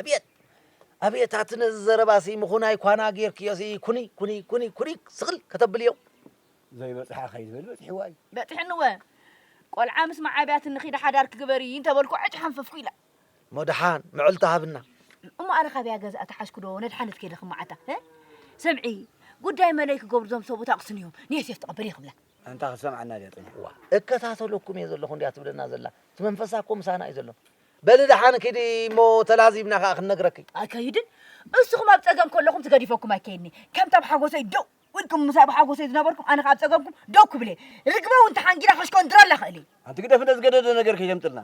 ኣብየት ኣብየት ኣቲ ነዚ ዘረባሲ ምኹናይ ኳና ጌርክዮሲ ኩኒ ኩኒ ኩኒ ኩኒ ስቕል ከተብልዮ ዘይበጽሓ ከይትብል በጺሕዋ እዩ በጺሕንወ ቆልዓ ምስ መዓብያት ንኺዳ ሓዳር ክግበሪ እንተበልኩ ዕጭ ሓንፈፍኩ ኢላ እሞ ደሓን ምዕልታ ሃብና እሞ ኣነ ካብያ ገዛ ተሓዝኩ ዶ ነድሓነት ከይደ ክመዓታ ሰምዒ ጉዳይ መለይ ክገብሩ ዞም ሰቡት ኣቕስን እዮም ንየሴፍ ተቐበል ይኽብላ ኣንታ ክትሰምዓና ድያ ጥንሕዋ እከታተለኩም እየ ዘለኹ እንድያ ትብለና ዘላ እቲ መንፈሳ እኮ ምሳና እዩ ዘሎ በሊ ደሓን ኪዲ እሞ ተላዚብና ከኣ ክንነግረኪ። ኣይከይድን እስኹም ኣብ ጸገም ከለኹም ትገዲፈኩም ኣይከይድኒ ከምቲ ኣብ ሓጎሰይ ደው ኢልኩም ምሳይ ኣብ ሓጎሰይ ዝነበርኩም ኣነ ከኣ ኣብ ጸገምኩም ደው ክብል እየ ርግበ እውን ተሓንጊዳ ከሽኮንድረላ ክእል እየ ኣንቲ ግደፍ እንደ ዝገደደ ነገር ከይተምጥልና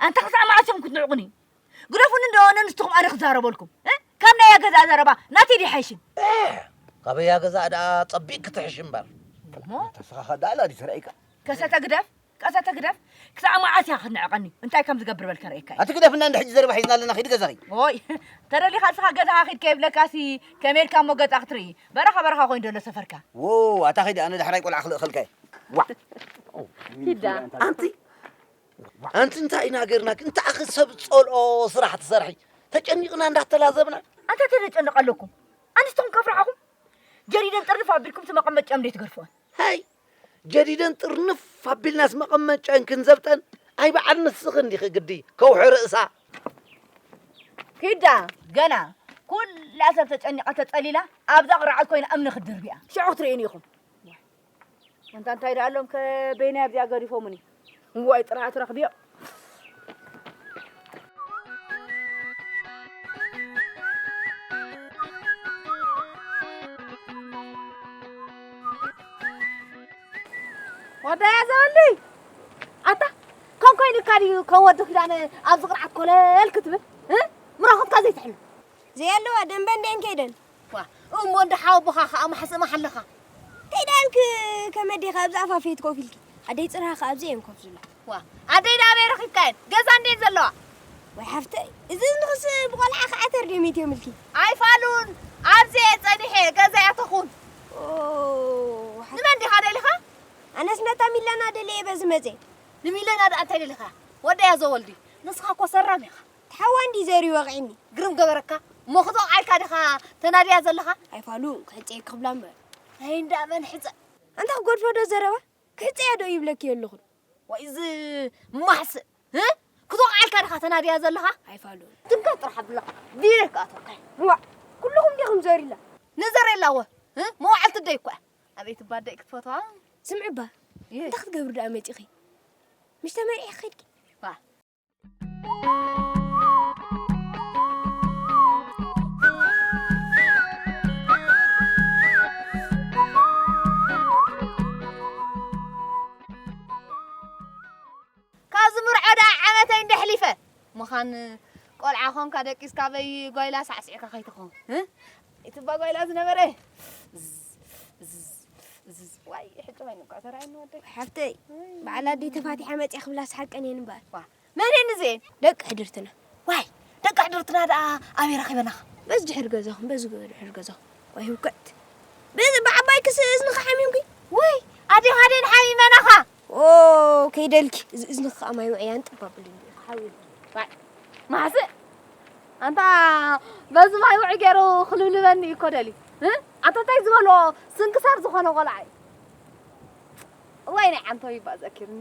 ኣንታ ክሳዕ መዓስ እዮም ክትንዕቑኒ ግደፉኒ እንደሆነ ንስኹም ኣነ ክዛረበልኩም ካብ ናይ ኣገዛእ ዘረባ ናተይ ዲሓይሽን ካበይ ኣገዛእ ደኣ ጸቢቕ ክትሕሽ እምበር ተስኻኻ ደኣ ላዲ ተራእይካ ከሰተ ግደፍ ቀሰተ ህግደፍ ክሳዕ መዓስ ኢኻ ክትንዕቐኒ? እንታይ ከም ዝገብር በል ከርእየካ እየ። ኣቲ ግደፍና እንደ ሕጂ ዘረባ ሒዝና ኣለና ኺዲ ገዛኺ። ኦይ ተደሊኻ ንስኻ ገዛኻ ኺድ ከይብለካሲ ከመይ ኢልካ እሞ ገዛ ክትርኢ? በረኻ በረኻ ኮይኑ ዘሎ ሰፈርካ። ዎው ኣታ ኺድ ኣነ ዳሕራይ ቆልዓ ክልእኸልካ እየ። ዋእ ኪድ ደኣ። ኣንቲ ኣንቲ እንታይ ኢና ገርና ግን ታኣኺ ሰብ ጸልኦ ስራሕ ትሰርሒ ተጨኒቕና እንዳተላዘብና ኣንታ ተደጨንቕ ኣለኩም ኣንስትኹም ከፍርሓኹም ጀሪደን ጥርንፍ ኣቢልኩም እቲ መቐመጭኦም ደይ ትገርፍዎን ሃይ ጀዲደን ጥርንፍ ኣቢልናስ መቐመጨን ክንዘብጠን ኣይ በዓል ንስኺ እንዲኺ ግዲ ከውሒ ርእሳ ኪዳ ገና ኩላ ሰብ ተጨኒቓ ተጸሊላ ኣብዛ ቅርዓት ኮይና እምኒ ክትድርብያ ሽዑ ክትርእዩኒ ኢኹም እንታ እንታይ ደኣሎም ከበይናይ ኣብዚኣ ገዲፎሙኒ እዋይ ጥራኣት ረኽብዮ ወዳያ ዘበልይ ኣታ ከም ኮይኑካ ድዩ ከም ወዲ ኪዳነ ኣብዚ ቅርዓት ኮለል ክትብል ምራኹትካ ዘይትሕሉ ዘየለዋ ደንበ እንዲኤን ከይደን ኳእ እሞ እንዳ ሓወቦኻ ኸኣ ማሕስእ ማሓለኻ። እንታይ ደኣ እንክ ከመይ ዲኻ ኣብዚ ኣፋፌት ኮፍ ኢልኪ ኣደይ ጽርሃ ኸኣ ኣብዚ እየን ኮፍ ዝብላ። ዋ ኣደይ ናበይ ረኺብካየን ገዛ እንድየን ዘለዋ። ወይ ሓፍተይ እዚ እዝንኽስ ብቆልዓ ኸኣ ተርገሚት እዮምልኪ። ኣይፋሉን ኣብዚ እየ ጸኒሐ ገዛይ ኣተኹን። ኦ ሓፍ- ንመን ዲኻ ደሊኻ? ኣነስ ነታ ሚለና ደልየ በዚ መጽየ። ንሚለና ደኣ እንታይ ደሊኻያ ወደያ ዘወልዲ ንስኻ እኮ ሰራም ኢኻ። ሓዋ እንድዩ ዘርዩ ወቂዕኒ ግርም ገበረካ እሞ ክትወቕዓልካ ዲኻ ተናድያ ዘለኻ ኣይ ፋሉ ክሕጸየኪ ክብላ እምበር ናይ እንዳ መን ሕጸ ኣንታ ክጎድፎ ዶ ዘረባ ክሕጸያ ዶ ይብለኪ የለኹን ዋይ እዚ ማሕስእ ህ ክትወቕዓልካ ዲኻ ተናድያ ዘለኻ ኣይ ፋሉ ትንከፍ ጥራሕ ኣብላ ቢረይ ክኣትወካ ዋእ ኩሉኹም ዲኹም ዘሪላ ንዘሬላ ወ ህ መዋዕልቲ ደይ እኳ ኣቤት እባ ደይ ክትፈትዋ ስምዕባ እንታይ ክትገብሪ ደኣ መጺኺ ምሽ ተመሪዕኺ ከድኪ ዋ ምዃን ቆልዓ ኾንካ ደቂስካ በይ ጓይላ ሳዕሲዕካ ከይትኾን ይትባ ጓይላ ዝነበረ ዋይ ሕጂ ኮይኑ እኳ ተራእየኒ ወደይ ሓፍተይ በዓል ኣደይ ተፋቲሓ መፅያ ክብላስ ሓቀን እየን እምበኣር መን እየን እዚአን ደቂ ሕድርትና ዋይ ደቂ ሕድርትና ደኣ ኣበይ ረኺበናኻ በዚ ድሕሪ ገዛኹም በዚ ድሕሪ ገዛኹም ወይ ህውክዕት በዚ ብዓባይ ክስ እዝንኻ ሓሚምኪ ወይ ኣዴኻ ደን ሓሚመናኻ ኦ ከይደልኪ እዚ እዝንኺ ከዓ ማይ ውዕያን ጥብ ኣብሉ እንዲኡ ክሓዊ ዋይ ማሕስእ ኣንታ በዚ ማይ ውዒ ገይሩ ክልብልበኒ እዩ እኮ ደልዩ እ? ኣታ እንታይ ዝበሎ ስንክሳር ዝኾነ ቆልዓ እዩ እዋይ ናይ ዓንተው ይባእ ዘኪርኒ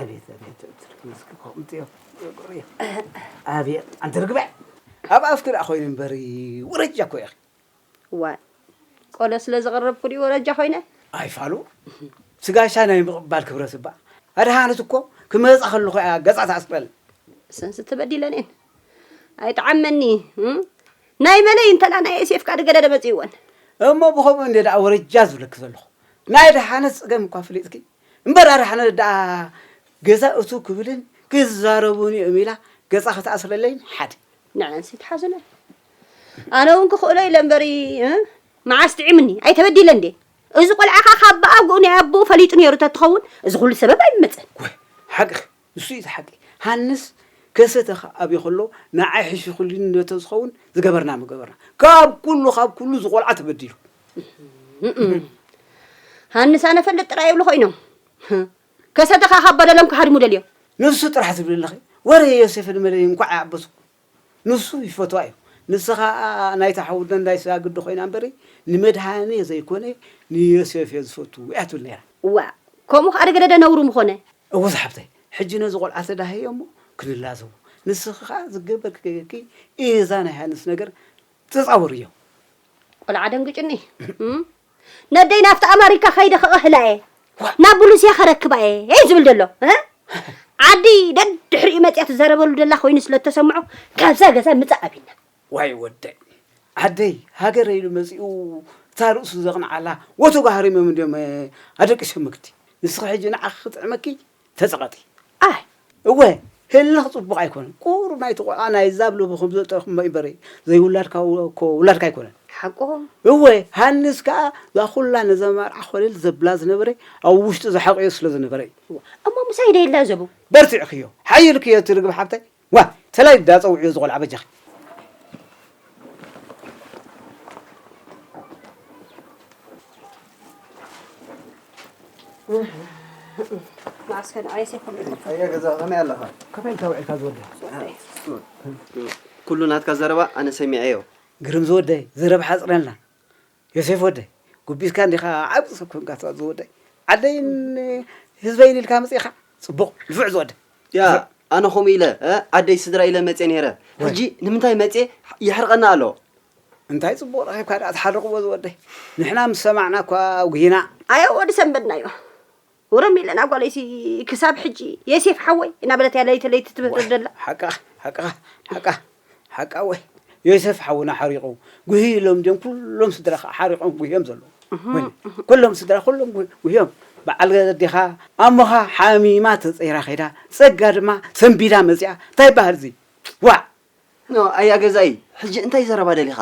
ኣቤት ኣቤት ትርግምስኪ ከምኡ እዮም ዝገብሩ እዮም ኣቤት ኣንቲ ርግበ ኣብ ኣፍኪ ደኣ ኮይኑ እምበሪ ወረጃ እኮ ኢኺ ዋይ ቆሎ ስለ ዘቕረብኩ ድዩ ወረጃ ኮይነ ኣይፋሉ ስጋሻ ናይ ምቕባል ክብረት እባ ኣድሃነት እኮ ክመፃ ከለኹ እያ ገፃ ተኣስበል ሰንስ ተበዲለኔን ኣይጠዓመኒ ናይ መለይ እንተላ ናይ ኤሴፍካ ድገደደ መፅእወን እሞ ብከምኡ እንደ ደኣ ወረጃ ዝብለኪ ዘለኹ ናይ ድሓነት ፀገም እኳ ፍሊጥኪ እምበር ኣረ ሕነ ደኣ ገዛ እትው ክብልን ክዛረቡን እዮም ኢላ ገጻ ክትኣስረለይን ሓደ ንዐን ሲ ትሓዙለን ኣነ እውን ክኽእሎ ኢለ እምበሪ መዓስ ጥዒምኒ ኣይተበዲለ እንዴ እዚ ቆልዓ ከዓ ካብ ብኣጉኡ ናይ ኣቦኡ ፈሊጡ ነይሩ ተትኸውን እዚ ኩሉ ሰበብ ኣይመፅን ሓቅኺ ንሱ እዩ እቲ ሓቂ ሃንስ ከሰተኻ ኣብይ ከሎ ንዓይ ሕሽኹልኒ ነተዝኸውን ዝገበርና ምገበርና ካብ ኩሉ ካብ ኩሉ ዝቆልዓ ተበዲሉ ሃንስ ኣነ ፈልጥ ጥራይ ይብሉ ኮይኖም ከሰተኻ ካብ በደሎም ክሃድሙ ደልዮም ንሱ ጥራሕ ትብል ኣለኺ ወረ ዮሴፍን መለይ እንኳዕ ይዓበሱ ንሱ ይፈትዋ እዩ ንስኻ ናይታ ሓውደ እንዳይ ሳግዲ ኮይና እምበሪ ንመድሃኔ ዘይኮነ ንዮሴፍ እየ ዝፈቱ እያ ትብል ነይራ እዋ ከምኡ ከዓ ደገደደ ነውሩ ምኾነ እወ ዝሓፍተይ ሕጂ ነዚ ቆልዓ ተዳህየ እሞ ክንላዘቦ ንስኺ ከኣ ዝገበርኪ ገገርኪ እዛ ናይ ሃንስ ነገር ተጻወርዮ። ቆልዓ ደንግጭኒ እም ነደይ ናብቲ ኣማሪካ ከይደ ከቐህላ እየ ናብ ብሉስያ ከረክባ እየ እይ ዝብል ዘሎ እ ዓዲ ደድሕሪኡ መጽያ ትዛረበሉ ደላ ኮይኑ ስለ እተሰምዖ ካብዛ ገዛ ምጻእ ኣቢልና ዋይ ወደይ ዓደይ ሃገረይ ኢሉ መጺኡ እታ ርእሱ ዘቕንዓላ ወትሩ ሃሪሞም እንድዮም ኣደቂሶምክቲ ንስኺ ሕጂ ንዓኺ ክጥዕመኪ ተጸቐጢ ኣይ እወ ህልኽ ጽቡቕ ኣይኮነን ቁሩብ ናይቲ ቆልዓ ናይ ዛብ ለቡ ከም ዘጠርኩ እምበሪ ዘይውላድካ እኮ ውላድካ ኣይኮነን ሓቆም እወ ሃንስ ከኣ እዛ ኩላ ነዛ መርዓ ኮለል ዘብላ ዝነበረ ኣብ ውሽጡ ዝሓቕዮ ስለ ዝነበረ እዩ እሞ ምሳይ ደየላ ዘቡ በርቲዕክዮ ሓይልክዮ እቲ ርግብ ሓብተይ ዋይ ተላይ ዳኣ ጸውዕዮ እዚ ቆልዓ በጃኺ። መዓስከ ንዓይ ሰይኮም ኢኹም ኣያ ገዛ ከመይ ኣለኻ ከመይ ኢልካ ውዒልካ ዝወደይ ኩሉ ናትካ ዘረባ ኣነ ሰሚዐዮ ግርም ዝወደይ ዘረባ ሓጽረልና ዮሴፍ ወደይ ጉቢዝካ እንዲኻ ዓቢ ሰብ ኮንካ ትቐጽ ዝወደይ ዓደይን ህዝበይን ኢልካ መጺእኻ ጽቡቕ ንፉዕ ዝወደይ ያ ኣነ ከምኡ ኢለ ዓደይ ስድራ ኢለ መጼ ነይረ ሕጂ ንምንታይ መጼ የሕርቐኒ ኣሎ እንታይ ጽቡቕ ረኺብካ ደኣ ትሓርቕዎ ዝወደይ ንሕና ምስ ሰማዕና እኳ ኣጉሂና ኣያ ወዲ ሰንበድናዮ። ወረ ሚለና ጓለይ ሲ ክሳብ ሕጂ የሴፍ ሓወይ እናበለት እያ ለይቲ ለይቲ ትምህርር ደላ። ሓቃ ሓቃ ሓቃ ሓቃ ወይ ዮሴፍ ሓውና ሓሪቑ ጉሂ ኢሎም ድዮም ኩሎም ስድራ ከዓ ሓሪቖም ጉሂዮም ዘለዉ ኩሎም ስድራ ኩሎም ጉሂዮም በዓል ኣዴኻ ኣሞኻ ሓሚማ ተፀይራ ከይዳ ፀጋ ድማ ሰንቢዳ መፅኣ እንታይ በሃል እዚ ዋዕ ኣያ ገዛኢ ሕጂ እንታይ ዘረባ ደሊኻ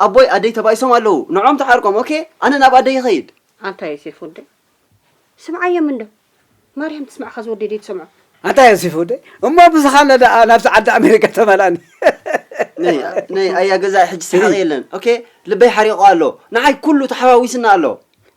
ኣቦይ ኣደይ ተባኢሶም ኣለዉ ንዖም ተዓርቆም ኦኬ ኣነ ናብ ኣደይ ይኸይድ ኣንታ ዮሴፍ ወደይ ስምዓዮም እንዶ ማርያም ትስምዕካ ዝወደይ ደይ ትሰምዖ ኣንታይ ኣንሲፍ ወደይ እሞ ብዝኻለ ደኣ ናብቲ ዓዲ ኣሜሪካ ተመላኒ ነይ ኣያ ገዛእ ሕጂ ሰሓቂ የለን ኦኬ ልበይ ሓሪቑ ኣሎ ንዓይ ኩሉ ተሓዋዊስና ኣሎ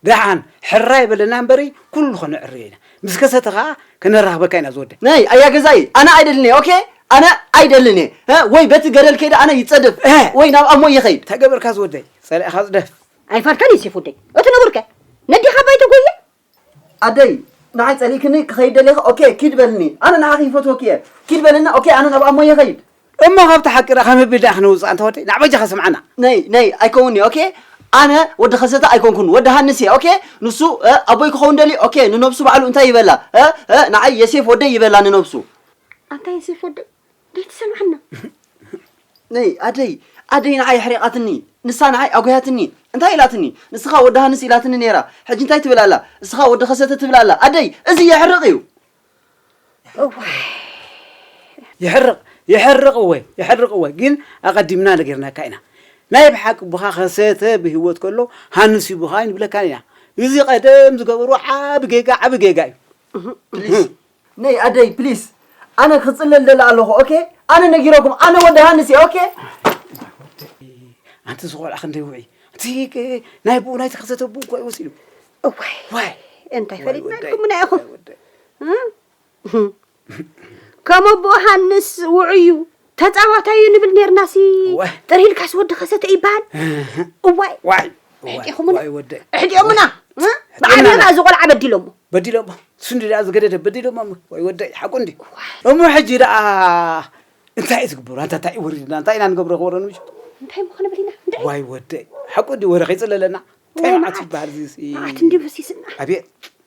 ደሓን ሕራይ በለና እምበሪ ኩሉ ከነዕርዮ ኢና ምስ ከሰተ ከዓ ከነራኽበካ ኢና ዝወደ ነይ ኣያ ገዛኢ ኣነ ኣይደልን እየ ኦኬ ኣነ ኣይደልን እየ ወይ በቲ ገደል ከይደ ኣነ ይፀድፍ ወይ ናብ ኣሞ ይኸይድ እንታይ ገበርካ ዝወደይ ፀላኢኻ ዝደፍ ኣይፋልካን እዩ ሴፉደይ እቲ ንቡር ከ ነዴኻ ባይቶ ጎየ። ኣደይ ንዓይ ጸሊእክኒ ክኸይድ ደሊኺ ኦኬ ኪድ በልኒ ኣነ ንዓኺ ይፈትወኪ እየ ኪድ በልኒ ኦኬ ኣነ ናብ ኣሞየ ይኸይድ። እሞ ካብቲ ሓቂ ርኣ ካብ ምብዳህ ክንውጽእ ኣንታ ወደይ ናዕ በጃኻ ስምዓና። ነይ ነይ ኣይከውን እየ ኦኬ ኣነ ወዲ ከሰተ ኣይኮንኩን ወዲ ሃንስ እየ ኦኬ ንሱ እ ኣቦይ ክኸውን ደልዩ ኦኬ ንነብሱ ባዕሉ እንታይ ይበላ እ እ ንዓይ የሴፍ ወደይ ይበላ ንነብሱ። ኣንታ የሴፍ ወደይ እንታይ ትሰምዓና? ነይ ኣደይ ኣደይ ንዓይ ኣሕሪቓትኒ፣ ንሳ ንዓይ ኣጒሃትኒ፣ እንታይ ኢላትኒ? ንስኻ ወዲ ሃንስ ኢላትኒ ነይራ፣ ሕጂ እንታይ ትብል ኣላ? ንስኻ ወዲ ከሰተ ትብል ኣላ፣ ኣደይ እዚ የሕርቕ እዩ። እዋይ ይሕርቕ ይሕርቕ እወ ይሕርቕ እወ፣ ግን ኣቐዲምና ነጊርናካ ኢና። ናይ ብሓቂ ቡኻ ከሰተ ብህይወት ከሎ ሃንስ እዩ ቡኻ ኣይንብለካን ኢና። እዚ ቀደም ዝገበሩ ዓቢ ጌጋ ዓቢ ጌጋ እዩ። ፕሊስ ነይ ኣደይ ፕሊስ ኣነ ክፅለ ልደሊ ኣለኹ ኦኬ ኣነ ነጊረኩም ኣነ ወዲ ሃንስ እየ ኦኬ ኣንቲ ዝቆልዓ ክንደይ ውዒ እቲ ናይ ብኡ ናይቲ ክልተ ተብኡ እኳ እዩ ወሲዱ እዋይ ዋይ እንታይ ፈሊጥናልኩምና ኢኹም ከምኡ ብኡ ሃንስ ውዑዩ ተጻዋታይ እዩ ንብል ነርና ሲ ጥር ኢልካስ ወዲ ከሰተ ይበሃል እዋይ ዋይ ሕጢኹምና ሕጢኦምና ብዓቢና እዚ ቆልዓ በዲሎሞ በዲሎሞ ስንዲ ደኣ ዝገደደ በዲሎሞ ወይ ወደይ ሓቁ እንዲ እሞ ሕጂ ደኣ እንታይ እዩ ዝግበሩ ኣንታ እንታይ እዩ ወሪድና እንታይ ኢና ንገብሮ ክበሮ ንምሽ እንታይ እሞ ክንብል ኢና ዋይ ወደይ ሓቁ እንዲ ወረ ከይፅለለና እንታይ መዓት ይበሃል እዚ መዓት እንዲ በሲስና ኣብየ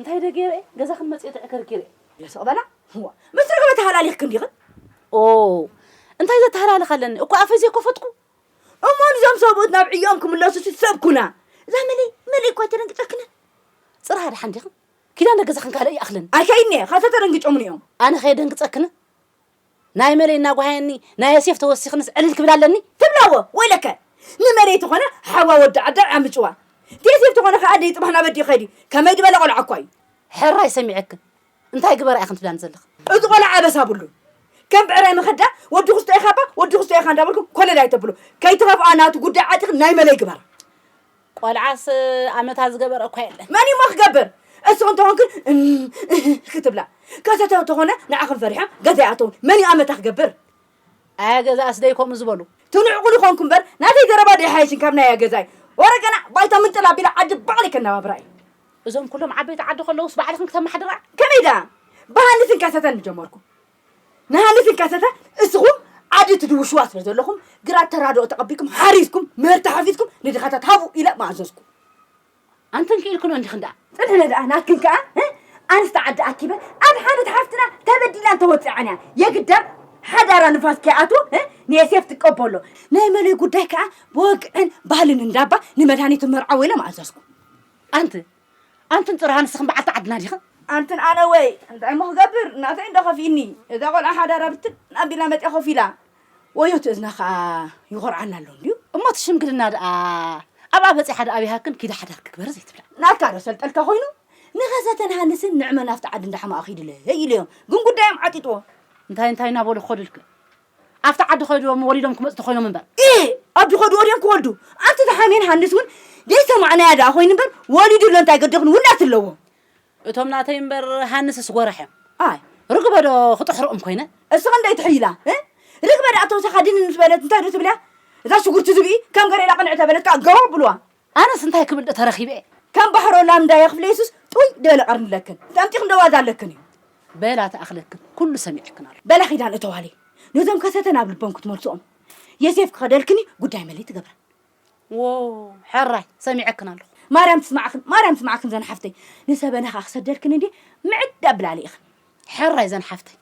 እንታይ ዶ ገይረ እየ ገዛኽን መፅየ ተዕከርኪረ እየ። ኢለ ስቕ በላ እዋ ምስ ርግበ ተሃላሊኽክን ዲኽን? ኦው እንታይ ዘተሃላልኽ ኣለኒ እኳ ኣፈይ ዘይኮፈትኩ። እሞ ንዞም ሰብኡት ናብ ዕዮኦም ክምለሱሲ ሰብ ኩና እዛ መለይ መለይ እኳ ኣይተደንግፀክንን። ፅራይ ደሓን ዲኽን? ኪዳ እንዳ ገዛኽን ካልእ ይኣኽለኒ። ኣይከይድን እየ ካብታ ተደንግጮሙኒ እዮም። ኣነ ከየደንግፀክንን? ናይ መለይ እናጓሃየኒ ናይ ዮሴፍ ተወሲኽንስ ዕልል ክብል ኣለኒ? ትብላዎ ወይለከ ንመለይ ተኾነ ሓዋ ወዲ ዓዳይ ዓምጭዋ ዴሴፍ ተኾነ ከኣ ደይ ጽባሕ ናበዲ ይኸይድ እዩ ከመይ ድበለ ቆልዓ እኳ እዩ። ሕራይ ሰሚዐኪ እንታይ ግበራ ኢኽን ትብላኒ ዘለኺ። እቲ ቆልዓ ኣበሳ ኣብሉን ከም ብዕራይ መኸዳ ወዲ ኩስቶ ኢኻባ ወዲ ኩስቶ ኢኻ እንዳበልኩም ኮለል ኣይተብሉ ከይትኸፍኣ ናቱ ጉዳይ ዓጢኽን ናይ መለይ ግበራ። ቆልዓስ ኣመታ ዝገበረ እኳ የለን። መን እዩሞ ክገብር? እስኹም እንተኾንክን እም እህ ክትብላ ከሰተ እንተኾነ ንዓኽን ፈሪሖም ገዛ ይኣተውን። መን እዩ ኣመታ ክገብር? ኣያ ገዛእስ ደይ ከምኡ ዝበሉ? ትንዕቑሉ ኮንኩ እምበር ናተይ ዘረባ ደይ ሓይሽን ካብ ናይ ኣያ ገዛይ። ወረ ገና ባይታ ምንጥል ኣቢለ ዓዲ ባዕለይ ከነባብራ እዩ። እዞም ኩሎም ዓበይቲ ዓዲ ከለውስ ባዕልኽን ክተማሕድራ? ከመይ ደኣ ብሃንስን ከሰተን ምጀመርኩ። ንሃኒ ትንከሰሰ እስኹም ዓዲ ትድውሽዋ ስለ ዘለኹም ግራት ተራድኦ ተቐቢልኩም ሓሪስኩም ምህርቲ ሓፊስኩም ንድኻታት ሃቡ ኢለ ምኣዘዝኩ ኣንተን ክኢልክሎ እንዲኽን ደኣ ፅንሕነ ደኣ ናትክን ከኣ ኣንስቲ ዓዲ ኣኪበ ኣብ ሓመድ ሓፍትና ተበዲላን ተወፂዓን እያ የግዳ ሓዳራ ንፋስ ከይኣትዎ ንየሴፍ ትቀበሎ ናይ መለይ ጉዳይ ከዓ ብወግዕን ባህልን እንዳባ ንመድሃኒቱ መርዓዎ ኢለ ምኣዘዝኩ ኣንቲ ኣንትን ጥርሃ ንስኽን በዓልቲ ዓድና ዲኽን? ኣንትን ኣነ ወይ እንታይ እሞ ክገብር ናተይ እንዶ ከፊእኒ እዛ ቆልዓ ሓዳራ ብትን ኣቢላ መጺኣ ኮፍ ኢላ ወዮ እቲ እዝና ከኣ ይኾርዓና ኣሎ እንድዩ። እሞ እቲ ሽምግልና ደኣ ኣብኣ በጺሓ ደኣ ኣብያሃክን ኪዳ ሓዳርኪ ግበሪ ዘይትብላ? ናትካ ዶ ሰልጠልካ ኮይኑ ንኸሰተን ሃንስን ንዕመ ናብቲ ዓዲ እንዳ ሓማኣ ኪድለይ ኢሉዮም ግን ጉዳዮም ዓጢጥዎ። እንታይ እንታይ እናበሉ ክኸዱ ኢልክን? ኣብቲ ዓዲ ከይዶም ወሊዶም ክመጹ ተኾይኖም እምበር። እህ ኣብ ድኾዱ ወዲኦም ክወልዱ ኣንቲ ተሓሜን ሃንስ ውን ዘይሰማዕናያ ደኣ ኮይኑ እምበር ወሊዱ ኣሎ እንታይ ገደኽን ውላድ ኣለዎ። እቶም ናተይ እምበር ሃንስስ ጎራሕ እዮም። ኣይ ርግበ ዶ ክጥሕርኦም ኮይነ። እስ ክንደይ ትሕይላ እ ርግበ ደኣ ተውሳኻ ድንን ምስ በለት እንታይ ዶ ትብልያ እዛ ሽጉርቲ ዝብኢ ከም ገሬላ ቅንዕ ተበለት ከኣ ገው ኣብሉዋ። ኣነስ እንታይ ክብል ዶ ተረኺበ እየ። ከም ባሕሮ ላምዳ እየ ክፍለ የሱስ ጡይ ድበለ ቀርኒ ኣለክን ጠምጢኽን ዶ ዋዛ ኣለክን እዩ። በላ ትኣኽለክን ኩሉ ሰሚዕክን ኣሎ። በላ ኪዳን እተዋለይ ነዞም ከሰተ ናብ ልቦም ክትመልስኦም የሴፍ ክኸደልክን እዩ ጉዳይ መለይ ትገብረን። ዎው ሐራይ ሰሚዐክን ኣለኹ። ማርያም ትስማዕክን ማርያም ትስማዕክን ዘን ሓፍተይ ንሰበና ከኣ ክሰደልክን እንዴ ምዕድ ኣብላለ ኢኽን። ሐራይ ዘን ሓፍተይ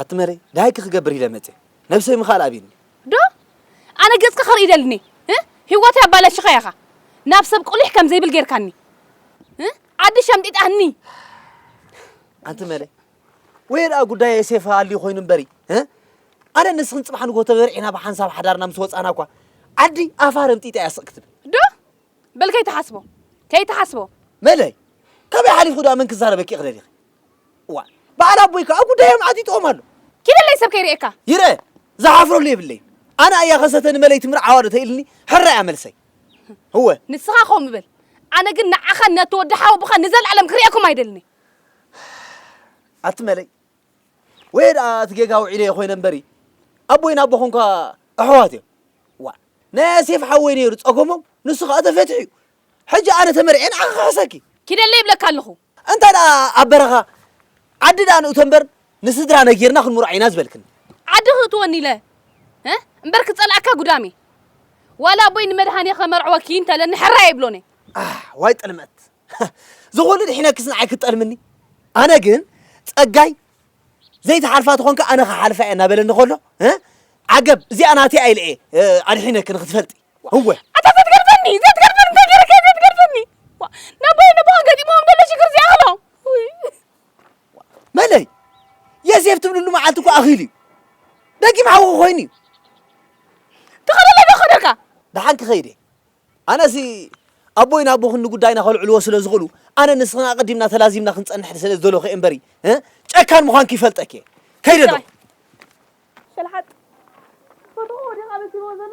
ኣቲ መሬ ደሃይኪ ክገብር ኢለ መጽየ ነብሰይ ምኽኣል ኣብዩኒ። ዶ ኣነ ገጽኪ ክርኢ ደልኒ እ ሂወተይ ኣባላሺኻያ ኢኻ ናብ ሰብ ቁሊሕ ከም ዘይብል ጌርካኒ እ ዓዲ ሸምጢጣኒ። ኣንቲ መሬ ወየ ደኣ ጉዳይ የሴፍ ኣልዩ ኮይኑ እምበሪ እ ኣነ ንስኽን ጽባሕ ንግሆ ተበርዒና ብሓንሳብ ሓዳርና ምስ ወጻና እኳ ዓዲ ኣፋ ረምጢጣ እያ ስቕ ክትብል። ዶ በል ከይትሓስቦ ከይትሓስቦ መለይ ካበይ ሓሊፉ ደኣ መን ክዛረበኪ ክደሊኺ እዋ በዓል ኣቦይ ከዓ ጉዳዮም ዓጢጥዎም ኣሎ። ኪደለይ ሰብ ከይርእየካ። ይርእ ዝሓፍረሉ የብለይን። ኣነ ኣያ ከሰተ ንመለይቲ ምርዓዋ ዶ ተኢልኒ ሕራይ እያ መልሰይ። እወ ንስኻ ከምኡ በል ኣነ ግን ንዓኻን ነቲ ወዲ ሓወቦኻን ንዘለኣለም ክርእየኩም ኣይደልን እየ። ኣቲ መለይ ወይ ደኣ እቲ ጌጋ ውዒለዮ ኮይነ እምበሪ ኣቦይን ኣቦኹም እኳ ኣሕዋት እዮም። ዋ ናይ ኣሴፍ ሓወይ ነይሩ ጸገሞም ንሱ ከዓ ተፈትሑ እዩ። ሕጂ ኣነ ተመርዔ ንዓኺ ክሕሰኪ ኪደለይ ይብለካ ኣለኹ። እንታይ ደኣ ኣብ በረኻ ዓዲ ደኣ ንእቶ እምበር ንስድራ ነጊርና ክንምርዖ ኢና ዝበልክኒ። ዓዲ ክእትወኒ ኢለ እምበር ክጸልኣካ ጉዳም እየ። ዋላ ኣቦይ ንመድሃኔ ከመርዕወኪ እንተለኒ ሕራይ ኣይብሎን እየ። ኣሕ ዋይ ጥልመት! ዝኹሉ ድሒነክስ ንዓይ ክትጠልምኒ? ኣነ ግን ጸጋይ ዘይትሓልፋ ተኾንካ ኣነ ክሓልፋ እየ እናበለኒ ከሎ ዓገብ እዚኣ ናተይ ኣይለ እየ ኣድሒነኪ ንክትፈልጢ እወ ኣታ ዘትገርፈኒ ዘትገርፈኒ እንታይ ገይረካ ዘትገርፈኒ ናባይ ነቦ ገጢሞም ደሎ ሽግር ዚኣኸሎ መለይ የሴፍ ትብልሉ መዓልቲ እኮ ኣኺሉ እዩ ደጊም ሓዊ ኮይኑ እዩ ተኸለለ ዶ ኸደልካ ደሓን ክኸይድ እየ ኣነሲ ኣቦይን ኣቦኽን ንጉዳይና ከልዕልዎ ስለ ዝኽእሉ ኣነን ንስኽን ኣቐዲምና ተላዚብና ክንጸንሕ ስለ ዝደለኹ'የ እምበሪ ጨካን ምዃንኪ ይፈልጠኪ'የ። ከይደ ኣሎ። ጥራይ ሸልሓጥ ፈተውኡ ዲኻ በሲልዎ ዘሎ?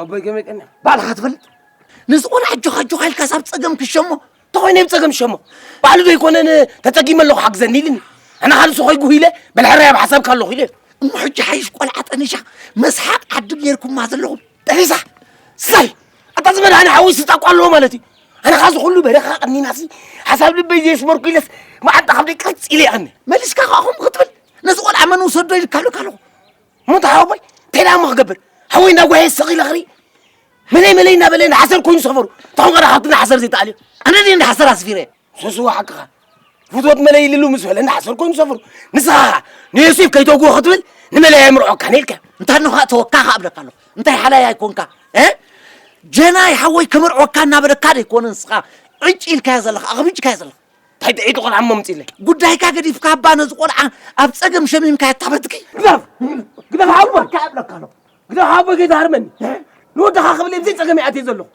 ኣቦይ ከመይ ቀና ባዕልኻ ትፈልጥ ንዝኾነ ኣጆኻ ኣጆኻ ኢልካ ሳብ ፀገም ክሸሞ ተኾይነ ብ ፀገም ሸሞ ባዕሉ ዘይኮነ ተፀጊመ ኣለኹ ሓግዘኒ ኢልኒ ኣነ ካልእ ሰኾይ ጉህ ኢለ በል ሕራይ ኣብ ሓሳብካ ኣለኹ ኢለ እሞ ሕጂ ሓይሽ ቆልዓ ጠኒሻ መስሓቅ ዓዲ ጌርኩማ ዘለኹም ጠኒሳ ስታይ ኣታ ዝመድሃኒ ሓወይ ስጣቋ ኣለዎ ማለት እዩ ኣነ ካዚ ኩሉ በረኻ ቀኒናሲ ሓሳብ ልበይ ዘየስመርኩ ኢለስ መዓንጣ ካብደይ ቀርፅ ኢለ ይቐኒ መሊስካ ከኹም ክትብል ነዚ ቆልዓ መን ውሰዶ ኢልካ ኣለካ ኣለኹ ሙት ሓወቦይ እንታይ ደኣ እሞ ክገብር ሓወይ እንዳጓየ ስቕ ኢለ ክርኢ መለይ መለይ እናበለ ንሓሰር ኮይኑ ሰፈሩ ተኾን ቀረ ካብቲ ንሓሰር ዘይተኣልዮ ኣነ ድየ ንሓሰር ኣስፊረ ሱስዎ ሓቅኻ ፍትወት መለይ ኢልሉ ምስ በለ ንሓሰር ኮይኑ ሰፈሩ ንስኻ ኸዓ ንዮሴፍ ከይተውግቦ ክትብል ንመለይ ኣይምርዖካን ኢልካ እንታ ንኻ ተወካ ኸዓ እብለካ ኣለኹ እንታይ ሓላይ ኣይኮንካ ጀናይ ሓወይ ክምርዖካ እናበለካ ደይኮነ ንስኻ ዕጭ ኢልካዮ ዘለኻ ኣኽቢጭካዮ ዘለኻ እንታይ ጥዒቲ ቆልዓ እሞ ኣምፅኢለይ ጉዳይካ ገዲፍካ እባ ነዚ ቆልዓ ኣብ ፀገም ሸሚምካዮ ኣታበትኪ ግደፍ ግደፍ ሓወ እካ እብለካ ኣለኹ ግደፍ ሓወ ጌታ ሃርመኒ ንወድኻ ክብል እየ ብዘይ ፀገም ይኣትየ ዘለኹ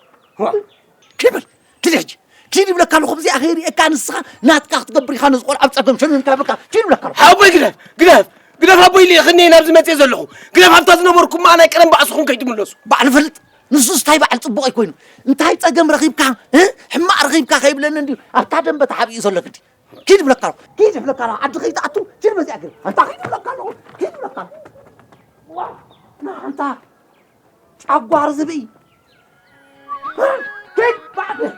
ክብል ክደ ሕጂ ኪድ ይብለካ ኣለኹ ብዚኣ ከይርእየካ ንስኻ ናትካ ክትገብር ኢኻ ነዚ ቆልዓ ኣብ ፀገም ሸሚምካ ይብለካ ኪድ ይብለካ ኣለኹ ሓወይ ግደፍ ግደፍ ግደፍ ኣቦይ ኢለ ክኒ ናብዚ መፅየ ዘለኹ ግደፍ ኣብታ ዝነበርኩማ ናይ ቀደም ባዕስኹም ከይትምለሱ ባዕሉ ፈልጥ ንሱስ ታይ በዓል ፅቡቕ እዩ ኮይኑ እንታይ ፀገም ረኺብካ እ? ሕማቕ ረኺብካ ከይብለኒ እንድዩ ኣብታ ደንበ ተሓቢኡ ዘሎ ግዲ ኪድ ይብለካ ኣለኹ ኪድ ይብለካ ኣለኹ ዓዲ ከይትኣቱ ኪድ በዚኣ ግር ኣንታ ኪድ ይብለካ ኣለኹ ኪድ ይብለካ ኣለኹ ዋ ንኣንታ ጨጓር ዝብኢ እ? ኪድ በዓል ቤት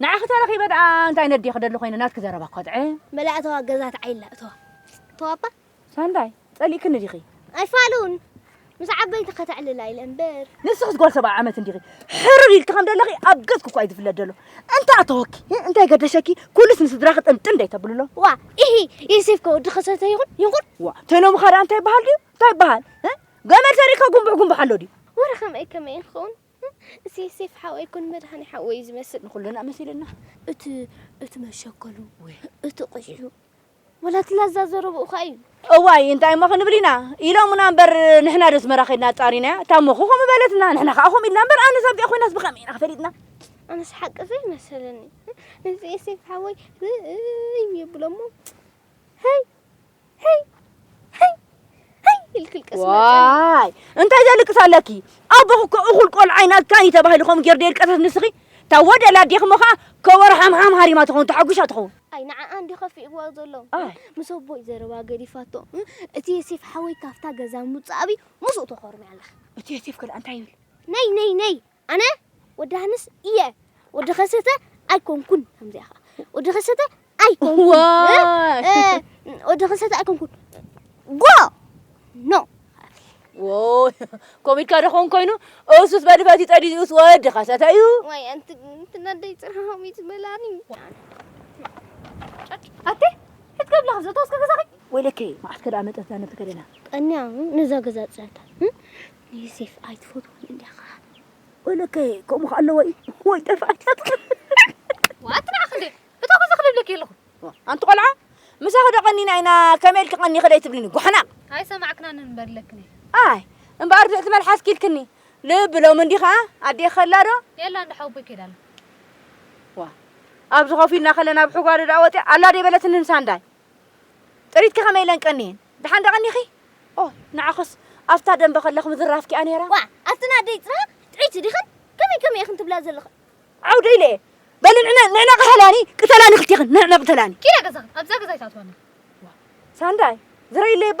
ንዓኺ ተረኺበ ደኣ እንታይ ነዲየ ክደሊ ኮይነ ናትኪ ዘረባ ኮትዐ። መላእ እተዋ ገዛ ተዓይላ እተዋ ተዋባ ሳንዳይ ጸሊእክኒ ዲኺ? ኣይፋሉን ምስ ዓበይቲ ከተዕልላ ኢለ እምበር ንስኽስ ጓል ሰብዓ ዓመት እንዲኺ ሕርር ኢልኪ ከም ዘለኺ ኣብ ገጽኪ እኳ እዩ ዝፍለጥ ዘሎ እንታይ ኣተወኪ እንታይ ገደሸኪ ኩሉስ ንስድራኺ ጥንጥን ደይተብልሎ ዋ ኢሂ ዮሴፍ ከ ወዲ ከሰተ ይኹን ይኹን ዋ ተኖም ኻዳ እንታይ ይበሃል ድዩ እንታይ ይበሃል ገመል ሰሪእካ ጉንቡሕ ጉንቡሕ ኣሎ ድዩ ወረ ከመይ ከመይ ንኸውን እሰይ ሴፍ ሓወይ ኩን መድሃኔ ሓወይ እዩ ዝመስል ንኩልና መሲሉና እቲ እቲ መሸከሉ እቲ ቁሽዑ ወላ እቲ ላዛ ዘረብኡ ከ እዩ እዋይ እንታይ እሞ ክንብል ኢና ኢሎሙና እምበር ንሕና ዶ ኣስመራ ከድና ኣጻሪናያ እታ እሞ ከምኡ በለትና ንሕና ከዓ ከምኡ ኢልና እምበር ኣነስ ኣብዚኣ ኮይናስ ብከመይ ኢና ፈሊጥና ኣነስ ሓቂ ዘይመሰለኒ እዚ ኤሴፍ ሓወይ ርእይ ይብሎ እሞ ሀይ ሄይ ሄይ ሄይ ኢልኪ ልቀስ ዋይ እንታይ ዘልቅስ ኣለኪ ኣቦኺ እኮ እኹል ቆልዓ ኢና ካኒ ተባሂሉ ከምኡ ጌር ደይልቀሰስ ንስኺ እታ ወደላ ኣዴኺ እሞ ከዓ ከበሮ ሓምሓም ሃሪማ ትኸውን ተሓጒሻ ትኸውን ኣይ ንዓኣ እንዲ ከፊእዋ ዘሎ ምስ ኣቦይ ዘረባ ገዲፋቶ እቲ የሴፍ ሓወይ ካብታ ገዛ ምውፃእ ኣብዩ ምስኡ ተኾርምያ ኣለኺ እቲ የሴፍ ከ እንታይ ይብል ነይ ነይ ነይ ኣነ ወዲ ሃንስ እየ ወዲ ከሰተ ኣይኮንኩን ከምዚኣ ኸዓ ወዲ ከሰተ ኣይኮንኩን ወዲ ከሰተ ኣይኮንኩን ጎ ኖ ኮሚድካ ደኾን ኮይኑ እሱስ በድበት ይጠዲኡስ ወዲ ከሰተ እዩ ወይ ኣንቲ ትናደይ ፅርሃም እዩ ዝበላኒ ኣቴ ክትገብላ ከምዘ ተወስከ ገዛኺ ወይለከ መዓት ከደኣ መጠት ዛነብቲ ከደና ቀንያ ንዛ ገዛ ፅህታ ንዮሴፍ ኣይትፈትዎን እንዲኻ ወለከ ከምኡ ከ ኣለዎ እዩ ወይ ጠፍኣት ዋትና ክንደ እቶ ከዚ ክልብለኪ ኣለኹ ኣንቲ ቆልዓ ምሳኺ ዶ ቀኒና ኢና ከመይ ኢልኪ ቀኒኺ ደይ ትብልኒ ጓሕና ኣይሰማዕክናን እንበለክኒ ኣይ እምበኣር ድሕቲ መልሓስ ኪልክኒ ልቢ ሎም እንዲ ኸዓ ኣዴ ከላ ዶ የላ እንዳ ሓወቦይ ከይዳ ኣላ ዋ ኣብዚ ኮፍ ኢልና ከለና ብሕጓዶ ደኣ ወፂኣ ኣላ ደይ በለትኒ ንሳ እንዳይ ጥሪትኪ ከመይ ኢለን ቀንየን? ደሓን ዶ ቀኒኺ? ኦህ ንዓኽስ ኣብታ ደንበ ከለኽ ምዝራፍኪ'ያ ነይራ። ዋእ ኣብቲ ንኣደይ ጥራሃ ጥዕይቲ ዲኽን? ከመይ ከመይ ኢኽን ትብላ ዘለኽን? ዓው ዶ ኢለ እየ። በሊ ንዕነ ንዕነ ቅተላኒ ቅተላኒ ክልቴኽን ንዕነ ቅተላኒ። ኪዳ ገዛኽን ኣብዛ ገዛ ኣይትኣትዋን ኢኽን። ሳንዳይ ዝረይለይ እባ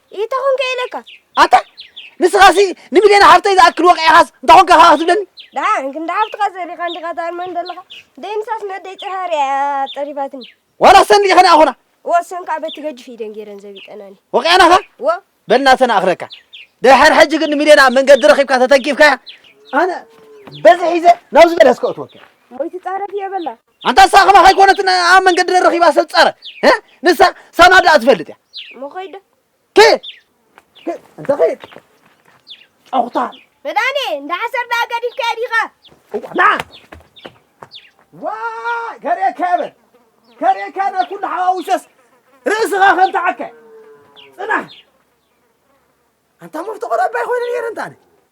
ኢታ ኮንከ ኢለካ ኣታ ንስኻሲ ንሚልዮን ሓፍተይ ዝኣክል ወቂዕኻስ እንታይ ኮንካ ኸዓ ክትብለኒ ደሓን ክንዲ ሓፍትኻ ዘሪኻ እንዲኻ ትኣርመን ዘለኻ ደይምሳስ ነደይ ፅሃር እያ ጠሪፋትኒ ዋላ ሰንዲ ኸነ ኣኾና ወሰን ከዓ በቲ ገጅፍ ኢደን ገይረን ዘቢጠናኒ ወቂዕናኻ ወ በልና ተናእኽረካ ድሕር ሕጂ ግን ንሚልዮን ኣብ መንገዲ ረኺብካ ተተንኪፍካያ ኣነ በዚ ሒዘ ናብዚ በለስ ከእትወካ ሞይቲ ፃረፍ እየ በላ ኣንታ ንሳ ከማኻ ኣይኮነትን ኣብ መንገዲ ረኺባ ሰብ ጸረ ንሳ ሳና ደኣ ትፈልጥ እያ እሞ ከይደ ከይድ እንተ ከይድ ጨኹታ መድኣኒ እንዳ ሓሰር ደኣ ገዲፍካዮ ዲኻ ንዓ ዋ ከርእየካ የበል ከርእየካ ናብ ኩሉ ሓዋዊሰስ ርእስኻ ከም ተዓከ ጽናሕ ኣንታ መፍቶ ቆልዑ ባይኮነ ነይረ እንታነ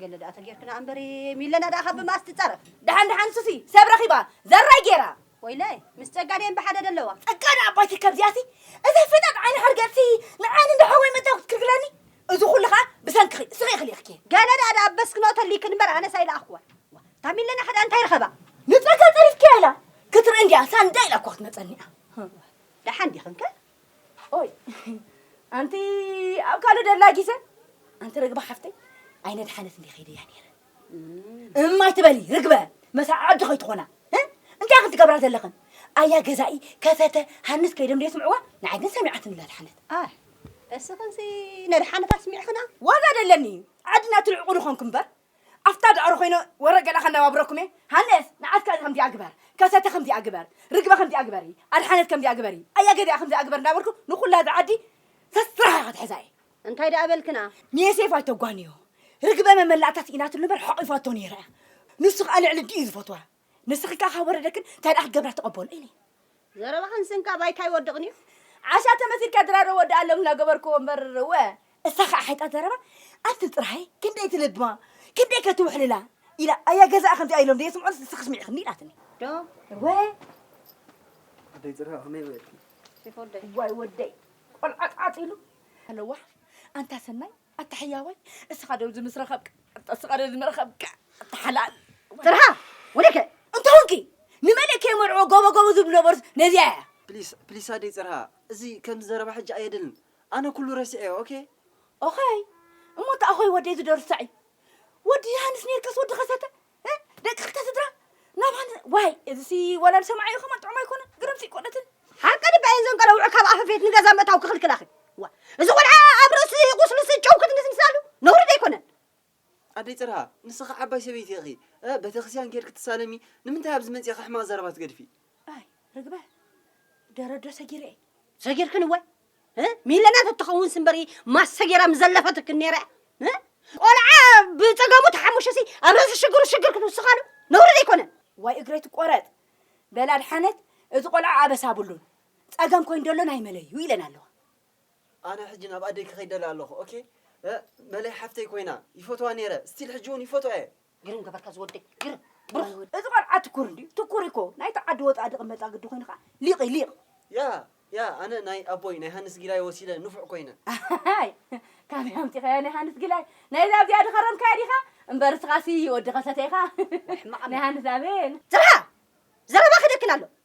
ገለ ደኣ ተጌርክና ኣምበሪ ሚለና ደኣ ካብ ብምኣስ ትጻረፍ ደሓን ደሓን ንሱሲ ሰብ ረኺባ ዘራይ ጌራ ወይለይ ምስ ጸጋ ደየን ብሓደ ደለዋ ጸጋ ደኣ ኣባይቲ ከምዚኣሲ እዛ ፈጣጥ ዓይኒ ሓርገጽሲ ንዓይ ንዶ ሓወይ መጺኣ ክትክልክለኒ እዚ ኩሉ ከኣ ብሰንክኺ እስኺ ኢኺ ልኢኽኪ ገለ ደኣ ደኣ በስክኖ ተሊክን እምበር ኣነስ ኣይለኣኽክዋን እታ ሚለና ከደኣ እንታይ ረኸባ ንጸጋ ጸሪፍኪያ ኢላ ክትርኢ እንዲያ ሳንዳ ኢላ እኳ ክትመጸኒ እያ ደሓን ዲኽንከ ኦይ ኣንቲ ኣብ ካልእ ደላ ጊዘ ኣንቲ ርግበ ሓፍተይ ኣይነድሓነት እንዲ ከይደያ ነይረ እማይ ትበሊ ርግበ መሳ ዓዲ ከይትኾና እንታይ ክንትገብራ ዘለኽን ኣያ ገዛኢ ከፈተ ሃንስ ከይደም ዶ የስምዕዋ ንዓይ ግን ሰሚዓትኒ ላድሓነት እስኽንሲ ነድሓነት ኣስሚዕኽና ዋላ ደለኒ ዓድና ትልዕቑ ንኾንኩ እምበር ኣፍታ ዳዕሮ ኮይነ ወረ ገለ ከነባብረኩም እየ ሃንደስ ንዓድካ ከምዚኣ ግበር ከሰተ ከምዚኣ ግበር ርግበ ከምዚኣ ግበሪ ኣድሓነት ከምዚኣ ግበሪ ኣያ ገሊኣ ከምዚኣ ግበር እንዳበልኩ ንኩላ እዛ ዓዲ ሰስራሕ ኢኻ ትሕዛ እየ እንታይ ደኣ በልክና? ንየሴፍ ኣይተጓንዮ ርግበ መመላእታ ስኢናትሉ እምበር ሓቒፋቶ ነይራ እያ ንሱ ከኣ ልዕሊ ኣዲኡ እዩ ዝፈትዋ። ንስኺ ከኣ ካብ ወረደክን እንታይ ደኣ ክገብራ ትቐበልኦ ኢኒ። ዘረባኽን ስንኪ ኣብ ኣይካ ይወድቕን እዩ። ዓሻ ተመሲልካ ድራር ወድኣሎም እናገበርክዎ እምበር እወ። እሳ ከኣ ሓይጣት ዘረባ ኣቲ ጥራይ ክንደይ ትልብማ ክንደይ ከ ትውሕልላ ኢላ ኣያ ገዛኣ ከምዚኣ ኢሎም ደየስምዑንስ ንስኺ ስሚዕክኒ ኢላትኒ። ዶ እወ። ኣደይ ዘረባ ከመይ በልኪ? እዋይ ወደይ ቆልዓ ጻዕጺሉ። ኣለዋ ኣንታ ሰናይ ኣታ ሕያዋይ እስኻ ዶ እዚ ምስ ረኸብካ ኣታ እስኻ ዶ እዚ ምረኸብካ ኣታ ሓላል ጥርሃ ወደከ እንተውንኪ ንመልእ ከይመርዕዎ ጎቦ ጎቦ ዝብሉ ነበሩስ ነዚኣ እያ ፕሊስ ፕሊስ ኣደይ ጽርሃ እዚ ከምዚ ዘረባ ሕጂ ኣየድልን ኣነ ኩሉ ረሲዐዮ ኦኬ ኦኸይ እሞ እንተ ኣኾይ ወደይ ዝደርሱ ሳዕ እዩ ወዲ ዮሃንስ ኔርካስ ወዲ ከሰተ ደቂ ክልተ ስድራ ናብ ሃንድ ዋይ እዚሲ ወላ ዝሰምዓዮ ከማን ጥዑም ኣይኮነን ግርምሲ ቆነትን ሓቂ ድበይ እዘን ቀለውዕ ካብ ኣፈ ቤት ንገዛ ምእታው ክኽልክላኺ ዋ እዚ ቆልዓ ኣብ ርእሲ ቁስሉሲ ጨው ክትንስንሳሉ ነውሪ ዶ ኣይኮነን ኣደይ ፅርሃ ንስኺ ዓባይ ሰበይቲ ኢኺ በተክስያን ኬድኪ ትሳለሚ ንምንታይ ኣብዚ መፂእኺ ሕማቕ ዘረባ ትገድፊ ኣይ ርግበ ደረዶ ሰጊረ እየ ሰጊርክን እወ ሚለና ተትኸውን ስምበሪ ማስ ሰጊራ ምዘለፈትክን ነይረ ቆልዓ ብፀገሙ ተሓሙሸሲ ኣብ ርእሲ ሽግሩ ሽግር ክትውስኻሉ ነውሪ ዘይኮነን ዋይ እግረይ ትቆረጥ በላ ድሓነት እቲ ቆልዓ ኣበሳ ኣብሉን ፀገም ኮይኑ ደሎ ናይ መለዩ ኢለን ኣለዋ ኣነ ሕጂ ናብ ኣደይ ክኸይድ ደለ ኣለኹ ኦኬ መለይ ሓፍተይ ኮይና ይፈትዋ ነይረ ስቲል ሕጂ እውን ይፈትዋ እየ ግርም ገበርካ ዝወደይ ግርም ብሩኽ እዚ ቆልዓ ትኩር እንድዩ ትኩር እኮ ናይቲ ዓዲ ወፃኢ ድቕመጣ ግዲ ኮይኑ ከዓ ሊቕ እዩ ሊቕ ያ ያ ኣነ ናይ ኣቦይ ናይ ሃንስ ጊላይ ወሲደ ንፉዕ ኮይነ ኣይ ካበይ ኣምፂኻዮ ናይ ሃንስ ጊላይ ናይዛ ኣብዚኣ ድኸረምካያ ዲኻ እምበር እስኻሲ ወዲ ከሰተ ኢኻ ናይ ሃንስ ኣቤል ዘርሃ ዘረባ ክደክን ኣሎ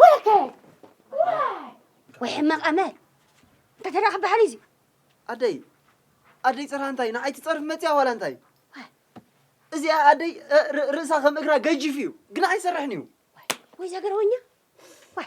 ወለተ ወይ ሕማቕ ኣመል እንታይ ተደኣ ክበሃል እዩ እዚ ኣደይ ኣደይ ፅርሃ እንታይ ንዓይ ትፀርፍ መፅያ ዋላ እንታይ እዚኣ ኣደይ ርእሳ ከም እግራ ገጅፍ እዩ ግን ኣይሰርሕን እዩ ወይ ዘገረወኛ ወይ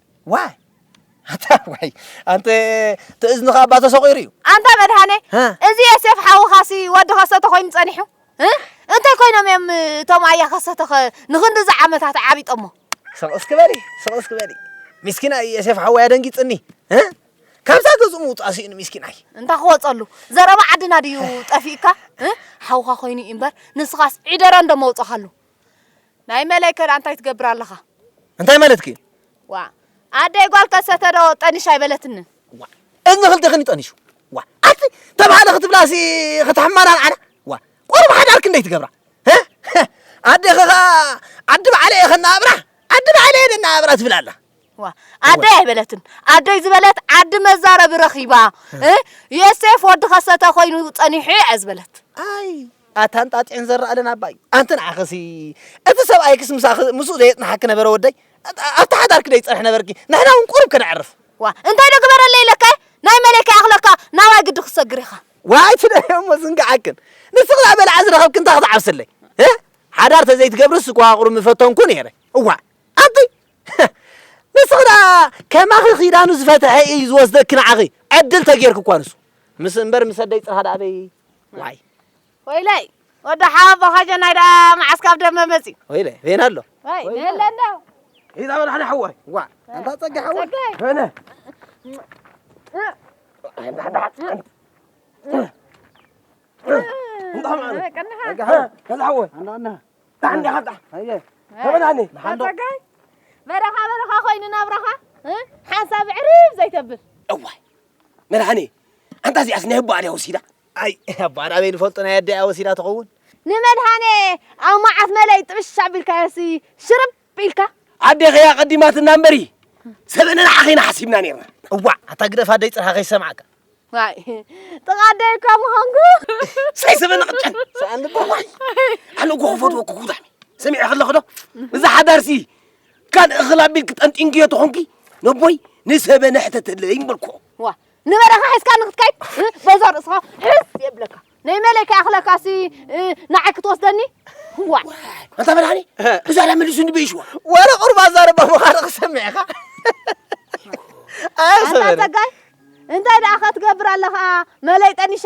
ዋይ ኣታ ዋይ ኣንተ ትእዝንኻ እባ ተሰቑሩ እዩ ኣንታ መድሃኔ እዚ የሴፍ ሓውኻሲ ወዲ ከሰተ ኮይኑ ጸኒሑ እንታይ ኮይኖም እዮም እቶም ኣያ ከሰተኸ ንኽንዲ እዚ ዓመታት ዓቢጦሞ ስቕ እስኪ በሊ ስቕ እስኪ በሊ ሚስኪና የሴፍ ሓወይ ኣደንጊጽኒ ካብዛ ገዝኡ ምውፃእ ስኢኑ ሚስኪን ኣይ እንታ ክወፀሉ ዘረባ ዓድና ድዩ ጠፊእካ ሓውካ ኮይኑ እዩ እምበር ንስኻስ ዒደራ እንዶ መውፀኻሉ ናይ መለይ ከዳኣ እንታይ ትገብር ኣለኻ? እንታይ ማለትኪ እዩ? ዋእ ኣደይ ጓል ከሰተ ዶ ጠኒሽ ኣይበለትንን? እዝኒ ክልቴኽን ይጠኒሹ ዋ ኣቲ ተባህለ ክትብላሲ ከተሕማራ ኣነ ዋ ቆርብ ሓዳር ክንደይ ትገብራ ኣዴኺ ኸኣ ዓዲ ባዕለ እየ ከናኣብራ ዓዲ ባዕለ እየ ደናኣብራ ትብል ኣላ ዋ ኣደይ ኣይበለትን ኣደይ ዝበለት ዓዲ መዛረቢ ረኺባ ዮሴፍ ወዲ ከሰተ ኮይኑ ጸኒሑ እየ ዝበለት ኣይ ኣታ እንጣጢዕን ዘራእልን ኣባይ ኣንቲ ንዓኽሲ እቲ ሰብኣይክስ ምሳኺ ምስኡ ዘየጽንሓኪ ነበረ ወደይ ኣብቲ ሓዳርኪ ደይጸንሕ ነበርኪ ንሕና እውን ቁሩብ ከነዕርፍ ዋ እንታይ ዶ ግበረለይ ኢለካ ናይ መለይ ከይኣኽለካ ናባይ ግዲ ክትሰግር ኢኻ ዋይ ትደይ እሞ ዝንግዓክን ንስኺ ዳኣ በላዓ ዝረኸብኪ እንታይ ክትዓብስለይ ሓዳር ተዘይትገብርስ ጓቕሩ ምፈተንኩ ነይረ እዋ ኣንቲ ንስኺ ዳኣ ከማኺ ኺዳኑ ዝፈትሐ እዩ ዝወስደኪ ንዓኺ ዕድል ተጌርኪ እኳ ንሱ ምስ እምበር ምስ ኣደይ ጽርሃ ዳኣ በይ ዋይ ወይለይ ወዲ ሓወቦ ካጀናይ ደኣ መዓስ ካብ ደመ መፅዩ ወይለ ቬና ኣሎ ወይ ነለ ኣሎ ኢዛ በላሕና ሓዋይ ዋ ኣንታ ፀጋ ሓዋይ ነ በረኻ በረኻ ኮይኑ ናብራኻ ሓንሳብ ዕርብ ዘይተብል እዋይ መድሓኒ ኣንታ እዚኣስ ናይ ኣቦኣ ድያ ወሲዳ ኣይ ኣቦኣ ናበይ ንፈልጦ ናይ ኣደኣ ወሲዳ ትኸውን ንመድሃኔ ኣብ መዓት መለይ ጥብሽ ኣቢልካዮሲ ሽርብ ኢልካ ኣዴኺ እያ ቀዲማትና እምበሪ ሰበ ንንዓኺ ኢና ሓሲብና ነርና እዋዕ ኣታ ግደፍ ኣደይ ፅርሃ ከይሰማዕካ ዋይ ጥቓ ኣደይ እኳ ምዃንኩ ሳይ ሰበ ንቕጨን ሰኣን ልባ ዋይ ኣነ እኮ ክፈትወኩ ጉዳሚ ሰሚዐ ከለኹ ዶ እዛ ሓዳርሲ ካልእ እኽል ኣቢልኪ ጠንጢንክዮ ተኾንኪ ነቦይ ንሰበ ነሕተተለይን በልክኦ ዋ ንበረኻ ሒዝካ ንክትከይድ በዛ ርእስኻ ሕዝ የብለካ ናይ መለይ ከይኣኽለካሲ ንዓይ ክትወስደኒ ዋ ኣንታ በላኒ ብዛዕባ መሊሱ ንበይሽዋ ወረ ቁርባ ዛረባ ምዃኑ ክሰሚዕኻ ኣንታ ጸጋይ እንታይ ደኣ ከትገብር ኣለኻ መለይ ጠኒሻ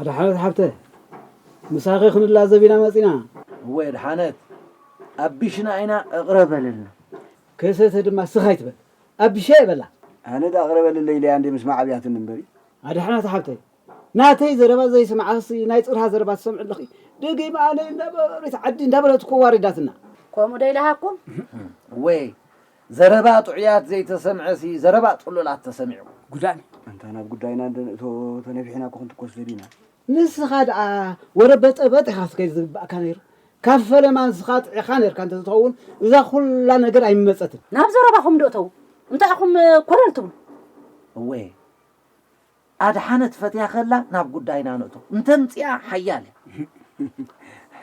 ኣድሓነት ሓብተ ምሳኺ ክንላዘብ ኢና መጺና። እወ የድሓነት ኣቢሽና ኢና እቕረበልልና። ከሰተ ድማ ስኽ ኣይትበል ኣቢሸይ በላ። ኣነ ድኣ ቅረበልለይ ኢለያ እንዴ ምስማዕ ኣብያትኒ እምበሪ። ኣድሓነት ሓብተይ ናተይ ዘረባ ዘይስምዓክሲ ናይ ጽርሃ ዘረባ ትሰምዒ ኣለኺ ደጊም ኣነ እንዳበሪት ዓዲ እንዳበለት እኮ ዋሪዳትና። ከምኡ ዶ ኢላሃኩም? እወ ዘረባ ጥዑያት ዘይተሰምዐሲ ዘረባ ጽሉላት ተሰሚዑ። ጉዳን ኣንታ ናብ ጉዳይና እንደ ንእቶ ተነቢሕና እኮ ክንትኮስ ደሊና። ንስኻ ደኣ ወረ በጠበጥ ኢኻ ክትከይድ ዝግበኣካ ነይሩ ካብ ፈለማ ንስኻ ጥዒኻ ነርካ እንተዝትኸውን እዛ ኩላ ነገር ኣይምመጸትን። ናብ ዘረባኹም ዶ እተው እንታይ ኢኹም ኮለል ትብሉ። እወ ኣድሓነት ፈትያ ከላ ናብ ጉዳይና ንእቶ እንተምጺኣ ሓያል እያ።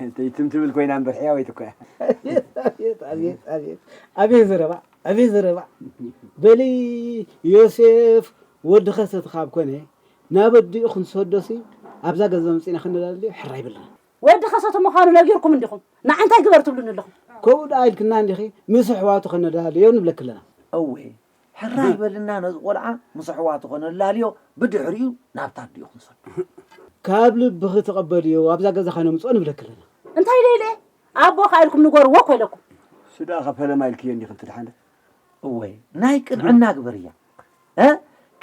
እተይ ትም ትብል ኮይና እምበር ሕያወይቲ እኮ እያ። ኣቤት ኣቤት ኣቤት ኣቤት ዘረባ ኣቤት ዘረባ በሊ ዮሴፍ ወዲ ከሰተ ካብ ኮነ ናብ ኣዲኡ ክንሰዶሲ ኣብዛ ገዛ መጺና ክንደላልዮ ሕራይ በልና። ወዲ ከሰተ ምዃኑ ነጊርኩም እንዲኹም ንዓ እንታይ ግበር ትብሉኒ ኣለኹም። ከምኡ ደኣ ኢልክና እንዲኺ ምስ ኣሕዋቱ ከነደላልዮ ንብለኪ ኣለና። እወ ሕራይ በልና ነዚ ቆልዓ ምስ ኣሕዋቱ ከነላልዮ ብድሕሪኡ ናብታ ኣዲኡ ክንሰዶ። ካብ ልብኺ ተቐበልዮ ኣብዛ ገዛ ከነምጽኦ ንብለኪ ኣለና። እንታይ ኢለ ኢለ ኣቦኻ ኢልኩም ንገርዎ እኮ ኢለኩም። እሱ ደኣኻ ፈለማ ኢልክዮ እንዲኺ ትድሓኒ። እወ ናይ ቅንዕና ግበርያ እ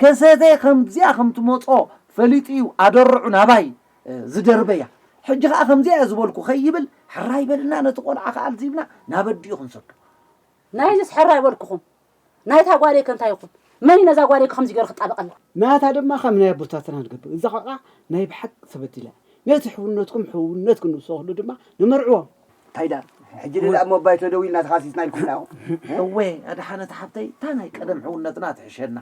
ከሰተይ ከምዚኣ ከም ትመጾ ፈሊጡ እዩ ኣደርዑ ናባይ ዝደርበያ ሕጂ ከኣ ከምዚኣ እየ ዝበልኩ ከይብል ሕራይ በልና ነቲ ቆልዓ ከኣልዚብና ናብ ኣዲኡ ክንሰዶ ናይዝስ ሕራይ በልኩኹም ናይታ ጓለይከ እንታይ ይኹን መን እዩ ነዛ ጓለይከ ከምዚ ገይሩ ክጣበቀላ። ናታ ድማ ከም ናይ ኣቦታትና ንገብር እዛ ቆልዓ ናይ ብሓቂ ተበዲላ እያ ነቲ ሕውነትኩም ሕውነት ክንውሰክሉ ድማ ንመርዕዎም። ታይ ደኣ ሕጂ ድኣ ኣብ ሞባይ ተደዊልና ተኻሲስና ኢልኩምና ኢኹም። እወ ኣድሓነት ሓብተይ እታ ናይ ቀደም ሕውነትና ትሕሸና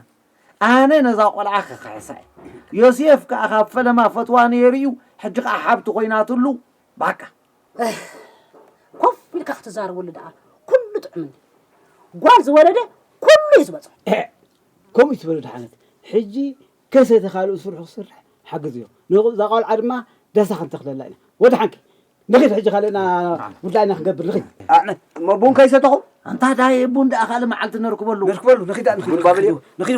ኣነ ነዛ ቆልዓ ክክሕሳ እየ ዮስየፍ ከኣ ካብ ፈለማ ፈትዋ ነይሩ እዩ ሕጂ ከኣ ሓብቲ ኮይናትሉ ባቃ። ኮፍ ኢልካ ክትዛረበሉ ደኣ ኩሉ ጥዑምኒ ጓል ዝወለደ ኩሉ እዩ ዝበፅሖ ከምኡ ይትበሉ ድሓነት ሕጂ ከሰ ተካልኡ ስርሑ ክስርሕ ሓግዝዮ ንዛ ቆልዓ ድማ ዳሳ ክንተክለላ ኢና ወድሓንኪ ንኺድ ሕጂ ካልእና ጉዳይና ክንገብር ንኺድ እሞ ቡን ከይሰተኹ ኣንታ ዳየ ቡን ደኣ ካልእ መዓልቲ ነርክበሉ ነርክበሉ ንኺድ ንኺድ ንኺድ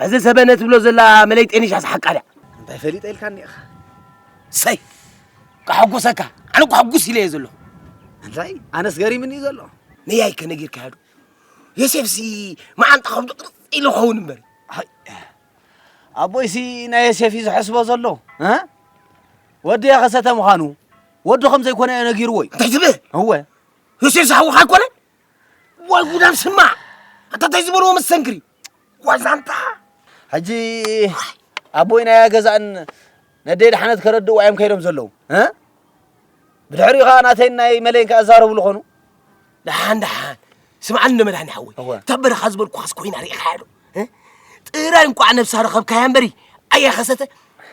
እዚ ሰበነ ትብሎ ዘላ መለይ ጤኒሻስ ሓቃ ድያ? እንታይ ፈሊጠ ኢልካኒ ኢኻ። ሰይ ከሐጉሰካ ኣነ እኮ ሕጉስ ኢለ እየ ዘለኹ። እንታይ ኣነስ ገሪምኒ እዩ ዘሎ። ነያይ ከነጊርካዮ ዶ ዮሴፍሲ መዓንጣ ከብዱ ቅርፅ ኢሉ ኸውን እምበር ኣቦይሲ ናይ ዮሴፍ እዩ ዝሐስቦ ዘሎ እ ወዲ የኸሰተ ምዃኑ ወዱ ከም ዘይኮነ እዮ ነጊርዎ እዩ እንታይ ትብል እወ ዮሴፍ ዝሓውኻ ኣይኮነን ዋይ ጉዳም ስማዕ ኣታ እንታይ ዝበልዎ መስተንክሪ ዋዛንታ ሕጂ ኣቦይ ናይ ገዛእን ነደይ ድሓነት ከረድእዋ እዮም ከይዶም ዘለዉ ብድሕሪኡ ከዓ ናተይ ናይ መለይን ከዓ ዛረብሉ ኾኑ ድሓን ድሓን ስምዓኒ ንመድሃኒ ሓወይ እታ በረኻ ዝበልኩኻስ ኮይና ርኢኻያ ዶ ጥራይ እንቋዕ ነብሳ ረኸብካያ እምበሪ ኣያ ኸሰተ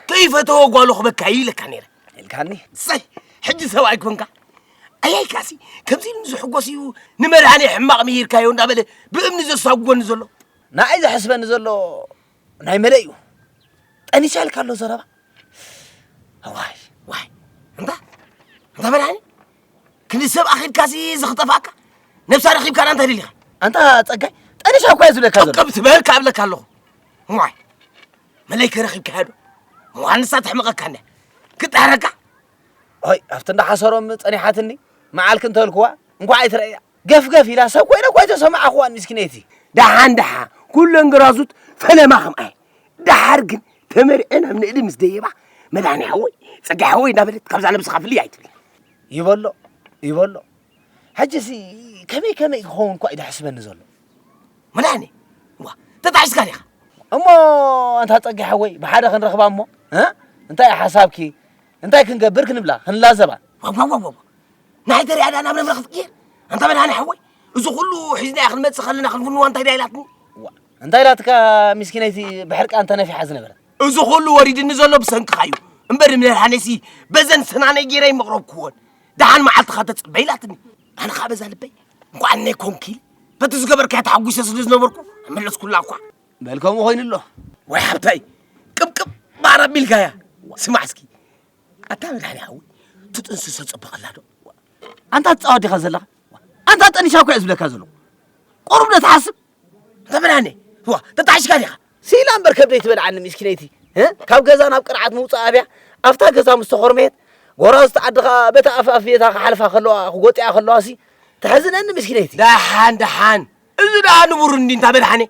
ከይፈተወ ጓሎ ክበካ ኢለካ ነይረ ኢልካኒ ሰይ ሕጂ ሰብኣይ ኮንካ ኣያይካሲ ከምዚ ኢሉ ዝሕጎስ እዩ ንመድሃኔ ሕማቕ ምሂርካዮ እንዳበለ ብእምኒ ዘሳጉጎኒ ዘሎ ንኣይ ዘሕስበኒ ዘሎ ናይ መለ እዩ ጠኒሳ ኢልካ ኣሎ ዘረባ ዋይ ዋይ እንታ እንታ መድሃኔ ክንዲ ሰብ ኣኺልካሲ ዝኽጠፋካ ነብሳ ረኺብካ ዳ እንታይ ደሊኻ ኣንታ ጸጋይ ጠኒሳ እኳ እዩ ዝብለካ ዘሎ ቀብ ትበል ካብለካ ኣለኹ ዋይ መለይ ከረኺብካዮ ዶ መዋንሳ ተሕምቐካኒ ክጠሃረካ ኦይ ኣብቲ እንዳሓሰሮም ጸኒሓትኒ መዓልክ እንተልክዋ እንኳዕ ኣይትረእያ ገፍገፍ ኢላ ሰብ ኮይነ እኳ ኣይተሰማዕኽዋን ምስኪነይቲ ደሓን ደሓ ኩለን ግራዙት ፈለማ ከምኣየ ደሓር ግን ተመርዐን ኣብ ንእዲ ምስ ደየባ መድሃኒ ሓወይ ጸጋ ሓወይ እናበለት ካብዛ ነብስኻ ፍልይ ኣይትብል ይበሎ ይበሎ ሕጂሲ ከመይ ከመይ ክኸውን እኳ እዩ ደሕስበኒ ዘሎ መድሓኒ ዋ ተጣዒስካ ዲኻ እሞ ኣንታ ጸጋይ ሓወይ ብሓደ ክንረኽባ እሞ እንታይ እዩ ሓሳብኪ እንታይ ክንገብር ክንብላ ክንላዘባ ዋዋዋዋ ንሓይ ተሪኣ ዳኣ ናብ ነብረ ክትቅየር ኣንታ መድሃኒ ሓወይ እዚ ኩሉ ሒዝናያ ክንመጽእ ከለና ክንፍንዋ እንታይ ዳ ኢላትኒ እንታይ ኢላትካ ምስኪነይቲ ብሕርቃ እንተነፊሓ ዝነበረ እዚ ኩሉ ወሪድኒ ዘሎ ብሰንክኻ እዩ እምበር ንመድሃኒሲ በዘን ስናነይ ገይረ ይመቕረብክዎን ደሓን መዓልትኻ ተጽበ ኢላትኒ ኣነ ከዓ በዛ ልበይ እንኳን ነይ ኮንኪ በቲ ዝገበርካያ ተሓጒሰ ስለ ዝነበርኩ መለስኩላ እኳ በል ከምኡ ኮይኑ ኣሎ ወይ ሓብታይ ቅብቅብ ባር ኣቢልካያ ስማዕ እስኪ ኣታ መድሓኒ ሓዊ ትጥንስሶ ፅብቕላ ዶ ኣንታ ትፃወት ዲኻ ዘለኻ ኣንታ ጠኒሻ እኳ እዩ ዝብለካ ዘለኹ ቁሩብ ዶ ትሓስብ ተመናኒ ዋ ተጣዕሽካ ዲኻ ሲላ እምበር ከብደይ ትበልዓኒ ሚስኪነይቲ ካብ ገዛ ናብ ቅርዓት ምውፃእ ኣብያ ኣብታ ገዛ ምስ ተኾርመየት ጎራዝቲ ዓድኻ በታ ኣፍኣፍየታ ክሓልፋ ከለዋ ክጎጥያ ከለዋ ሲ ተሕዝነኒ ሚስኪነይቲ ደሓን ደሓን እዚ ደኣ ንቡር እንዲ እንታ በልሓኒ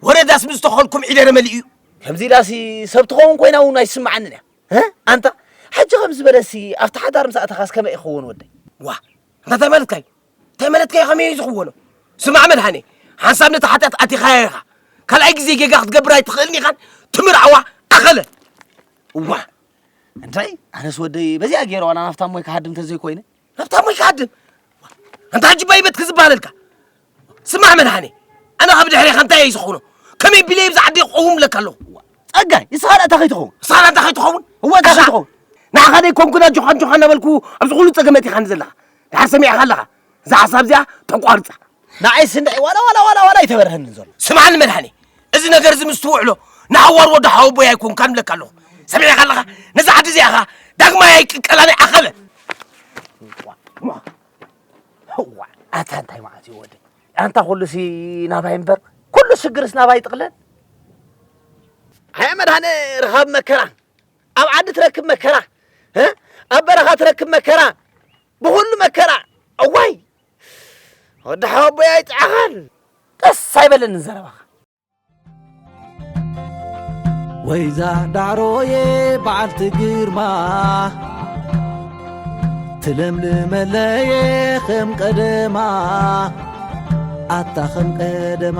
ወረዳስ ምስ ተኸልኩም ዒደረ መሊኡ እዩ ከምዚ ኢላሲ ሰብ ትኸውን ኮይና እውን ኣይስምዓንን እያ ኣንታ ሕጂ ከም ዝበለሲ ኣብቲ ሓዳር ምስ ኣተኻስ ከመይ ይኸውን ወደይ ዋ እንታይ ማለትካ እዩ ተመለትከ ከመይ እዩ ዝኽወኖ ስማዕ መድሃኔ ሓንሳብ ነቲ ሓጢኣት ኣቲኻያ ኢኻ ካልኣይ ግዜ ጌጋ ክትገብር ኣይትኽእልን ኢኻን ትምርዓዋ ኣኸለ እዋ እንታይ ኣነስ ወደይ በዚኣ ገይረ ዋላ ናብታ ሞይ ክሃድም ተዘይኮይነ ናብታ ሞይ ክሃድም ኣንታ ሕጂ ባይበት ክዝበሃለልካ ስማዕ መድሃኔ ኣነ ካብ ድሕሬኻ እንታይ እዩ ዝኾኖ ከመይ ቢለይ ብዛ ዓዲ ክቐውም ለካ ኣለኹ ጸጋይ ንስኻ ንእታ ከይትኸውን ንስኻ ንእታ ከይትኸውን እወ እታ ከይትኸውን ንዓኻ ደይ ኮንኩን ኣጆኻ ኣጆኻ እናበልኩ ኣብዚ ኩሉ ጸገመት ኢኻ ዘለኻ ድሓር ሰሚዕኻ ኣለኻ እዛ ሓሳብ እዚኣ ተቋርጻ ንዓይ ስንዒ ዋላ ዋላ ዋላ ዋላ ይተበርሀኒ ዘሎ ስምዓኒ መድሃኒ እዚ ነገር እዚ ምስ ትውዕሎ ንሓዋር ወዲ ሓወቦይ ኣይኮንካ ንብለካ ኣለኹ ሰሚዕኻ ኣለኻ ነዚ ዓዲ እዚኣ ኸዓ ዳግማይ ኣይቅቀላን እየ ዓኸበ እዋ ኣታ እንታይ ማለት እዩ ወደይ ኣንታ ኩሉሲ ናባይ እምበር ኩሉ ሽግርስ ናባይ ይጥቕለል ኣያ መድሃኒ ርኻብ መከራ ኣብ ዓዲ ትረክብ መከራ እ ኣብ በረኻ ትረክብ መከራ ብኹሉ መከራ እዋይ ወዲ ሓወቦይ ኣይጥዓኻን ደስ ኣይበለንን ዘረባኻ ወይዛ ዳዕሮዬ በዓልቲ ግርማ ትለምልመለየ ከም ቀደማ ኣታ ከም ቀደማ